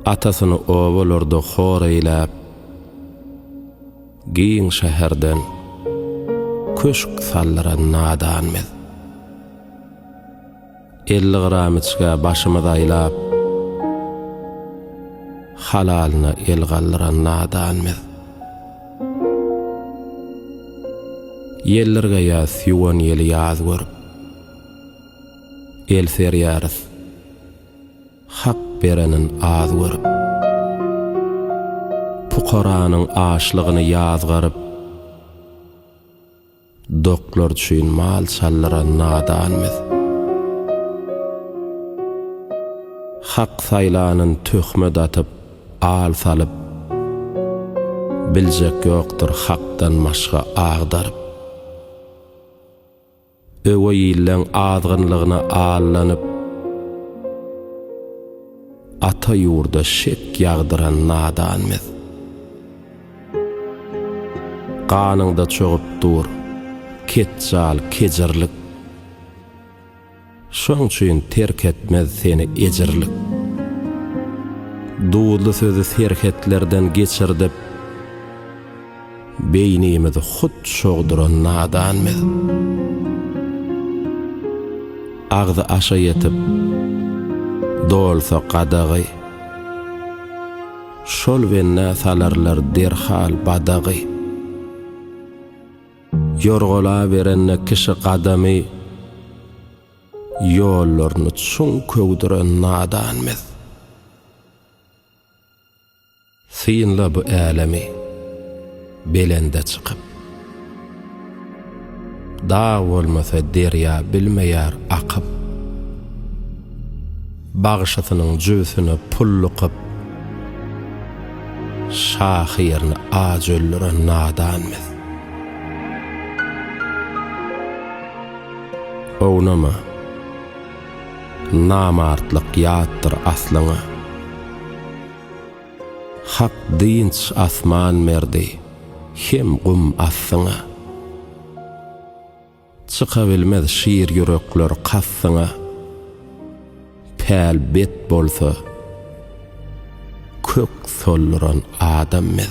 Atasyny obalarda hor eýläp, Giň şäherden köşk saldyran nadan biz. Elli gramyçga başymyz aýlap, Halalyna el galdyran nadan biz. Ýeldirgeýäs ýuwan ýeli ýaz görüp, El serýarys Hak berenin az görüp. Pukaranyň açlygyny ýazgaryp. Doklar üçin mal çaldyran nadan biz. Hak saýlanyn töhmet atyp, al salyp. Biljek ýokdur Hakdan başga agdaryp. Öweý illeň azgynlygyna allanyp, ata ýurda şek ýagdyran nadan biz. Ganyňda çogup dur, ketjal, kejirlik. Şoň üçin terk etmez seni ejirlik. Duzly sözi serhetlerden geçirdip, beýnimizi hut şogduran nadan biz. Agzy aşa ýetip, dolsa gadagy, şol bennä salarlar derhal badagy. Ýorgalaberende kişi gadamy ýollaryny çuň köwdüren nadan biz. Synla bu älemi belende çykyp. Dag bolmasa derýa bilmeýär akyp. Bagşysynyň jübüsine pul lykyp, şahyryny aç öldüren nadan biz. Ownama, namartlyk ýatdyr aslyňa. Hak dynç asman berdi, hem gum assyňa. Çykabilmez şir ýürekler kastyňa, Päl bet bolsa, kök solduran adam biz.